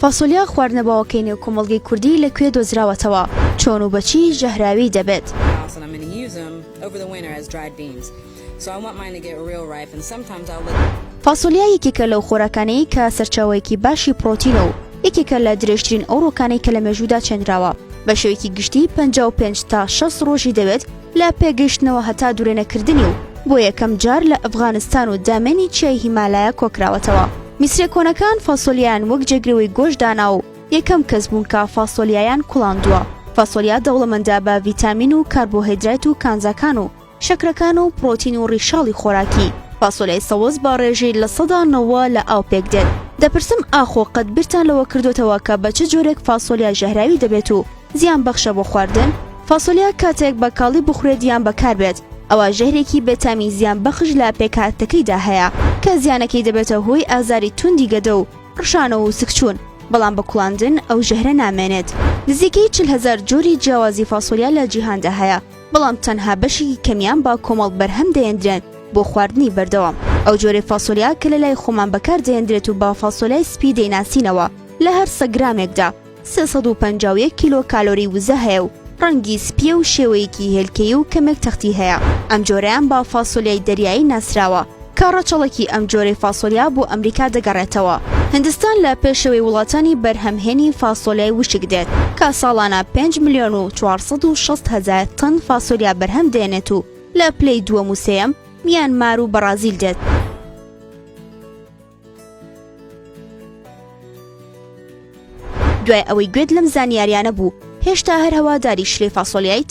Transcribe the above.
فاسۆلیا خواردنەبەوەکەی نێو کۆمەڵگەی کوردی لە کوێ دۆزراوەتەوە؟ چۆن و بەچی ژەهراوی دەبێت؟ فاسۆلیا یەکێکە لەو خۆراکانەی کە سەرچاوەیەکی باشی پڕۆتینە و یەکێکە لە درێژترین ئەوڕۆکانەی کە لە مێژوودا چێنراوە بە شێوەیەکی گشتی پەنجا و پێنج تا شەست ڕۆژی دەوێت لە پێ گەیشتنەوە هەتا دورێنەکردنی و بۆ یەکەم جار لە ئەفغانستان و دامێنی چیای هیمالایا کۆکراوەتەوە میسرە کۆنەکان فاسۆلیایان وەک جێگرەوەی گۆشت دانا و یەکەم کەس بوون کە فاسۆلیایان کوڵاندووە فاسۆلیا دەوڵەمەندە بە ڤیتامین و کاربۆهێدرایت و کانزاکان و شەکرەکان و پڕۆتین و ڕیشاڵی خۆراکی فاسۆلیای سەوز بە ڕێژەی لە سەدا نەوە لە ئاو پێک دێت. دەپرسم ئاخۆ قەت بیرتان لەوە کردۆتەوە کە بە چ جۆرێک فاسۆلیا ژەهراوی دەبێت و زیان بەخشە بۆ خواردن، فاسۆلیا کاتێک بە کاڵی بخورێت یان بەکاربێت ئەوا ژەهرێکی بێتامی زیان بەخش لە پێکهاتەکەیدا هەیە کە زیانەکەی دەبێتە هۆی ئازاری توندی گەدە و ڕشانەوە و سکچوون بەڵام بە کوڵاندن ئەو ژەهرە نامێنێت. نزیکەی چل هەزار جۆری جیاوازی فاسۆلیا لە جیهاندا هەیە بەڵام تەنها بەشێکی کەمیان بە کۆمەڵ بەرهەم دەێندرێن بۆ خواردنی بەردەوام. ئەو جۆرەی فاسۆلیا کە لە لای خۆمان بەکار دەێندرێت و بە فاسۆلیای سپی دەیناسینەوە لە هەر سەد گرامێکدا، سێ سەد و پەنجا و یەک کیلۆ کالۆری وزە هەیە و ڕەنگی سپییە و شێوەیەکی هێلکەیی و کەمێک تەختی هەیە. ئەم جۆرەیان بە فاسۆلیای دەریایی ناسراوە، کە ڕەچەڵەکی ئەم جۆرەی فاسۆلیا بۆ ئەمریکا دەگەڕێتەوە. هندستان لە پێشەوەی وڵاتانی بەرهەمهێنی فاسۆلیای وشک دێت، کە ساڵانە پێنج ملیۆن و چوار سەد و شەست هەزار تەن فاسۆلیا بەرهەم دێنێت و لە پلەی دووەم و سێیەم میانمار و بەڕازیل دێت. دوای ئەوەی گوێت لەم زانیاریانە بوو هێشتا هەر هەواداری شلەی فاسۆلیایت؟